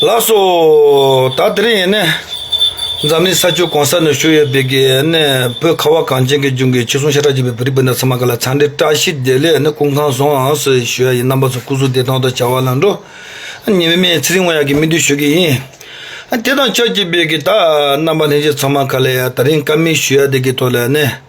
ལགས་སོ། ད་དེ་རིང་ཡིན་ནའི། འཛམ་གླིང་ས་ཆུ་གང་ས་ནས་བཞུར་ཡོད་པའི་གི་ནའི་བོད་ཁ་བ་གངས་ཅན་གྱི་ལྗོངས་ཀྱི་ཕྱི་སྲུང་ཤ་ཁྲག་གཅིག་པའི་བོད་རིགས་སྤུན་ཟླ་ཚང་མ་ག་ལ་ཚང་འདྲའི་བཀྲ་ཤིས་བདེ་ལེགས་ནི་ཀུན་ཁང་བཟང་ཟེར་ཞུ་ཡ་ཡིན་རྣམ་པ་ཚོ་སྐུ་གཟུགས་བདེ་ཐང་དང་བྱ་བ་ལམ་འགྲོ། ཉེ་བའི་མེས་ཚེ་རིང་བ་ཡག་གི་སྨིན་དུས་ཞུ་གི་ཡིན། དེ་དང་ཆབས་ཅིག་པའི་གི་ད་རྣམ་པ་ལྷན་རྒྱས་ཚང་མ་ག་ལ་ཡ་ད་རིང་ཀ་མེད་ཞུ་ཡ་དེ་གི་ཐོག་ལ་ནས།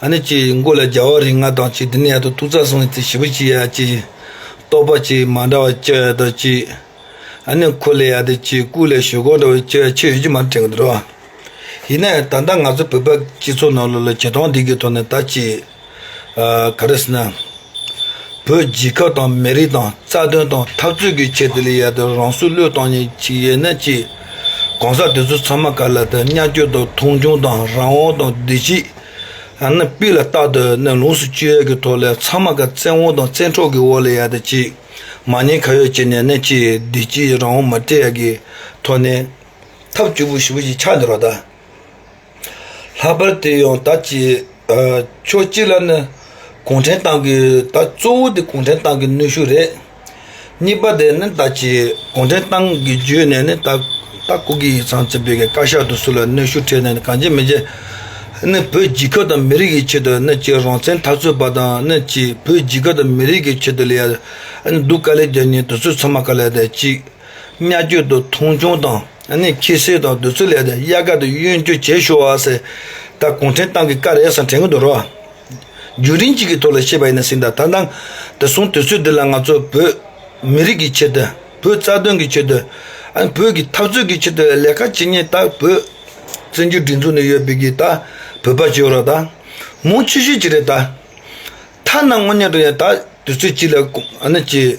ཨ་ནི་ཅི་ཡིས་མགོ་ལ་རྒྱ་བ་རིགས་ལྔ་དང་ཅི་དེ་ནས་ཡར་དུ་ཏུ་རྩ་གསུམ་གྱི་ཚེ་བཞི་པོ་ཅི་ཡ་ཅི། རྟོག་པ་ཅི་མ་འདྲ་བ་ཅི་ཡ་དང་ཅི། ཨ་ནི་ཁུ་ལས་ཡ་དེ་ཅི་ཀུ་ལས་ཞོ་གང་འདྲ་བ་ཅི་ཡ་ཆོས་ཡོད་ཀྱི་མ་དྲན་གྱི་འདུག་རོ། ཡིན་ན་ཡང་ད་ལྟ་ང་ཚོ་བོད་པ་སྤྱི་ཚོགས་ནང་ལོ་ལོ་ཇེ་ཐང་སྡིག་གི་ཐོག་ནས་ད་ཅི། ག་རེ་ཟེར་ན། བོད་རྒྱལ་ཁབ་དང་མི་རིགས་དང་རྩ་དོན་དང་འཐབ་རྩོད་ཀྱི་ཆེད་དུ་ལས་ཡ་དེ་རང་སྲོག་བློས་བཏང་ཉིད་ཅིག་ཡེ་ན་ཅི། གང་ཟག་དེ་ཚོ་ཚང་མ་ག་ལ་དང་གཉའ་སྐྱོ་དང་མཐོང་ཆུང་དང་རང་དབང་དང་བདེ་སྐྱིད། ཨ་ན་པི་ལ་རྟག་ཏུ་ཨ་ན་ལུང་སུ་སྤྱོད་ཡ་གི་ཐོག་ལས་ཚང་མ་ག་བཙན་དབང་དང་བཙན་འཕྲོག་གི་འོག་ལས་ཡ་དང་ཅིག་མ་ཉེས་ཁ་ཡོག་བྱེད་ནས་ཨ་ན་ཅིག་བདེ་སྐྱིད་རང་དབང་མ་སྤྲད་ཡ་གི་ཐོག་ནས། ཐབས་བཅུ་པོ་བཞི་པོ་ཞིག་ཆགས་འདི་རོགས་ད། ལྷག་པར་དུ་ཡང་ད་ཅི་ཕྱོགས་གཅིག་ལ་ནི་གུང་ཁྲན་ཏང་གི་ད་གཙོ་བོ་དེ་གུང་ཁྲན་ཏང་གི་ནུས་ཤུགས་རེད། གཉིས་པ་དེ་ནི་ད་ཅི་གུང་ཁྲན་ཏང་གི་བརྒྱུད་ནས་ནི་ད་ད་ཀོ་གི་ཡིག་ཚང་ཚིག་བེད་ཀྱི་བཀའ་ཤག་ཏུ་སུ་ལ་ནུས་ཤུགས་ཁྲེལ་ནས་ནི་གང་བྱེད་མི་བྱེད། ནི་བོད་རྒྱལ་ཁབ་དང་མི་རིགས་ཀྱི་ཆེད་དུ་ནི་ཅི་རང་བཙན་འཐབ་རྩོད་པ་དང་ནི་ཅི་བོད་རྒྱལ་ཁབ་དང་མི་རིགས་ཀྱི་ཆེད་དུ་ལ་ཡ་ནི་སྡུག་དཀའ་ལས་རྒྱབ་ཉེན་དུ་ཚོད་ཚང་མ་ག་ལ་ད་ཅི། གཉའ་བརྒྱུད་དུ་མཐོང་ཆུང་དང་ནི་ཁྱི་སེར་དང་བདུད་ཚུལ་ལས་ཏེ་གཡག་སྐར་དུ་གཡོན་བརྒྱུད་བྱེད་ཤོ་ཨ་སེ་ད་གུང་ཁྲན་ཏང་གི་སྐ་རེད་སང་དྲན་གི་འདུག་རོགས། རྒྱུན་རིང་གཅིག་གི་ཐོག་ལ་ཤེས་པ་ཡིན་ན་སིང་ད་ད་དང་དེ་སོང་དུས་ཚོད་འདི་ལ་ང་ཚོ་བོད་མི་རིགས་ཀྱི་ཆེད་དུ་བོད་རྩ་དོན་གྱི་ཆེད་དུ་བོད་ཀྱི་འཐབ་རྩོད་ཀྱི་ཆེད་དུ་ལས་ཀ་བྱེད་ངེས་ད་བོད་བཙན་བྱོལ་སྒྲིག་འཛུགས་ནས་ཡོད་པའི་གི་ད་བོད་པ་བྱེད་རོགས་ད་མུང་ཆུ་ཤོད་ཅིག་རེད་ད་ཐ་ན་དངོས་གནས་དུ་ཡང་ད་དུས་ཚོད་གཅིག་ལ་ཀུ་ཨ་ནི་གཅིག་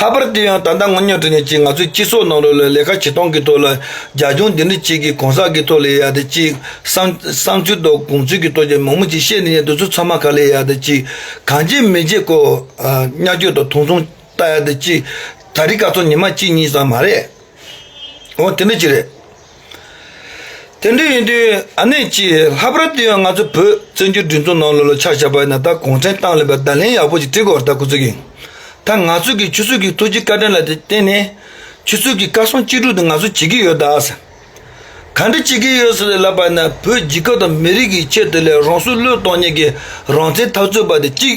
ལྷག་པར་དུ་ཡང་ད་ལྟ་དངོས་ཉོ་ཁྲི་ནས་ཀྱིས་ང་ཚོའི་སྤྱི་ཚོགས་ནང་ལོ་ལོན་ལས་ཀ་བྱེད་སྟངས་ཀྱི་ཐོག་ལ་རྒྱ་གཞུང་འདི་འདྲ་ཅིག་གིས་གོང་ས་ཀྱི་ཐོག་ལས་ཡག་ད་ཅིག་བསང་ཚུལ་དང་གོམས་ཚུལ་གྱི་ཐོག་ཅེས་མང་མོ་ཅིག་བཤད་འདི་ནས་འདི་ཚོ་ཚང་མ་ག་ལས་ཡག་ད་ཅིག་གང་བྱེད་མི་བྱེད་ཀོ་གཉའ་སྐྱོད་དང་དུང་སོང་ལྟ་ཡག་ད་ཅིག་ད་རི་ག་ཚོ་ཉི་མ་གཅིག་གཉིས་ཙམ་མ་རེད་འོ་དེ་འདྲ་ཅིག་རེད། དེ་འདྲ་ཡིན་དུས་ཨ་ནེ་ཀྱིས་ལྷག་པར་དུ་ཡང་ང་ཚོ་བོད་བཙན་བྱོལ་སྒྲིག་འཛུགས་ནང་ལོ་ལོ་ཆགས་ཆགས་པ་ཡིན་ན་ད་གུང་ཁྲན་ཏང་ལས་པའི་བརྡ་ལན་ཡག་པོ་ཞིག་བྲིས་དགོས་པར་ད་གུ་ཚུགས་ཀྱི་ཡོད་ད་ང་ཚོས་ཀྱི་ཆུ་ཚོད་ཀྱི་ཐུགས་རྗེ་བཀའ་དྲིན་ལ་བརྟེན་ནས་ཆུ་ཚོད་ཀྱི་བཀའ་སྲུང་གཅིག་སྒྲུག་དེ་ང་ཚོས་བྱེད་ཀྱི་ཡོད་ད་ཟེར་ག་འདྲ་བྱེད་ཀྱི་ཡོད་ཟེར་ལབ་པ་ན་བོད་རྒྱལ་ཁབ་དང་མི་རིགས་ཀྱི་ཆེད་དུ་ལས་རང་སྲུང་བློས་གཏོང་གཉིས་ཀྱི་རང་བཙན་འཐབ་རྩོད་པ་དེ་གཅིག་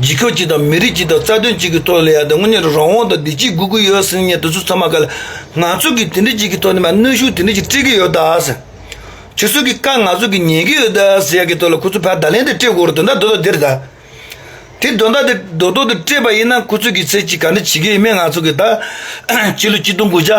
འཇིགས་སྐུལ་གཅིག་དང་མི་རིགས་གཅིག་དང་རྩ་དོན་གཅིག་གི་ཐོག་ལས་ཡག་དེ་དངོས་གནས་རང་དབང་དང་བདེ་སྐྱིད་དགོས་ཀྱི་ཡོད་སེམས་ངེས་དེ་ཚོ་ཚང་མ་ག་ལ་ང་ཚོ་གིས་དེ་འདྲི་གཅིག་གི་ཐོག་ནས་མ་གནོན་ཤུགས་དེ་འདྲི་གཅིག་སྤྲད་ཀྱི་ཡོད་ད་ཟེར། ཁྱོད་ཚོ་གི་བཀའ་ང་ཚོ་གིས་ཉན་གྱི་ཡོད་ད་ཟེར་ཡག་གི་ཐོག་ལ་ཁོ་ཚོ་ཕར་བརྡ་ལན་དེ་སྤྲད་དགོས་རོ་དོན་དག་རྡོ་ཐོག་འདིར་ད། དེ་རྡོ་འདག་དེ་རྡོ་ཐོག་ཏུ་སྤྲད་པ་ཡིན་ན་ཁོ་ཚོ་གིས་ཚེ་གཅིག་ག་འདྲ་བྱེད་ཀྱི་ཡོད་མེད་ང་ཚོ་གིས་ད། སྤྱི་ལོ་གཅིག་སྟོང་དགུ་བརྒྱ།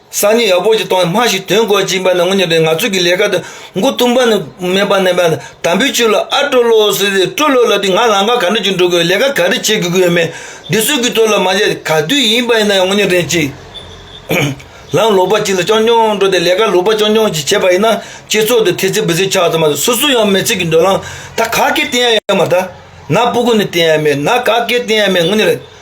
སང་ཉིན་ཡག་པོ་ཞིག་གཏོང་སྨྲ་ཞིག་དོན་གོ་སྦྱིན་པ་ནི་ངོ་མྱོང་པའི་ངང་ཚུལ་གྱི་ལས་ཀ་དེ་མགོ་བཏུམ་པ་ནི་སྨད་པ་ནས་པའི་དམ་བུའི་ཆུ་ལ་ཨ་སྤྲོ་ལོ་ཟེར་ཏེ་སྤྲོ་ལོ་ལབ་དུས་ང་ལང་ཀ་ག་འདྲ་ཞིག་འགྲོ་དགོས་ལས་ཀ་ག་རེ་བྱེད་དགོས་ཀྱི་ཡོད་མེད་འདི་གསོལ་གྱི་ཐོག་ལ་མ་བྱས་ག་དུས་ཡིན་པ་ཡིན་ན་ཡང་ངོ་མྱོང་དྲན་ཅིག་ལམ་ལོག་པ་གཅིག་ལ་ཅོང་ཅོང་འགྲོ་སྟེ་ལས་ཀ་ལོག་པ་ཅོང་ཅོང་ཞིག་བྱས་པ་ཡིན་ན་སྤྱི་ཚོགས་འདི་ཐེལ་ཚེ་འབུད་ཚེ་ཆགས་ཙམ་མ་གཏོགས་སུ་སུ་ཡང་མི་ཚེ་གི་འགྲོ་ལམ་ད་ག་གེ་བསྟན་ཡ་ཡ་མ་ད་ན་སྤུ་གུ་ནས་བསྟན་ཡ་མེད་ན་ག་གེ་བསྟན་ཡ་མེད་ངོ་མྱོང་དྲན་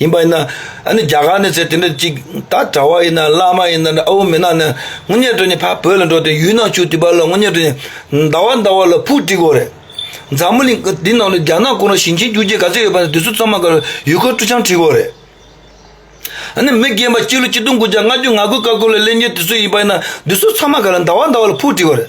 ཡིན་པ་ཡིན་ན་ཨ་ནི་རྒྱ་གར་ནས་ཚེ་དེ་འདྲ་ཅིག་ད་གྲྭ་བ་ཡིན་ན་བླ་མ་ཡིན་ན་ཨའུ་མི་ནག་ནས་སྔོན་ཉལ་གྲོལ་ནས་ཕ་བོད་ལ་འགྲོ་དེ་ཡུལ་ནང་ཆུ་དུས་པ་ལ་སྔོན་ཉལ་གྲོལ་ནས་ཟླ་བ་ཟླ་བ་ལ་ཕུག་བསྒྲིག་དགོས་རེད་འཛམ་བུ་གླིང་འདི་ནང་ལ་རྒྱ་ནག་ཀུན་རོགས་ཞིང་ཆེན་བསྒྱུར་རྗེས་ག་ཚད་ཡོད་པ་ནས་དེ་ཚོ་ཚང་མ་གར་ཡུལ་སྐོར་སྤྲོ་འཆམ་བྲིས་དགོས་རེད་ཨ་ནི་མི་རྒན་པ་སྤྱི་ལོ་སྐྱིད་སྡོང་དགུ་བརྒྱ་ལྔ་བཅུ་ང་དགུ་ཀ་ཀོ་ལ་གླེང་མཁན་དེ་ཚོ་ཡིན་པ་ཡིན་ན་དེ་ཚོ་ཚང་མ་གར་ཟླ་བ་ཟླ་བ་ལ་ཕུག་བསྒྲིག་དགོས་རེད།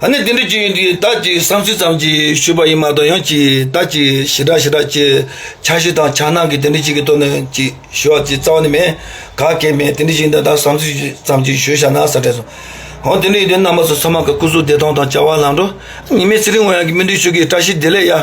ཨ་ནི་དེ་འདྲ་ཅི་ཡིན་དེ་ད་ཅི་བསམ་སྲིད་ཙམ་གྱིས་ཞུས་པ་ཡིན་མ་གཏོགས་ཡང་ཅི་ད་ཅི་ཞི་དྲག་ཞི་དྲག་ཅེས་ཆ་ཤས་དང་ཆ་སྣང་གིས་དེ་འདྲ་ཅིག་གི་ཐོག་ནས་ཅི་ཞུ་བ་ཅི་རྩ་བ་ནས་མེད་ག་སྐད་མེད་དེ་འདྲ་ཞིག་འདི་ད་བསམ་སྲིད་ཙམ་གྱིས་ཞུས་བཞག་ན་ས་བྲལ་སོང་འོང་དེ་འདྲ་ཡིན་དུས་རྣམ་པ་ཚོ་ཚང་མ་ག་སྐུ་གཟུགས་བདེ་ཐང་དང་བྱ་བ་ལང་འགྲོ་ཉི་མའི་ཚེ་རིང་བ་ཡང་གི་སྨིན་གྲོལ་ཤུགས་ཀྱིས་བཀྲ་ཤིས་བདེ་ལེགས་ཡ།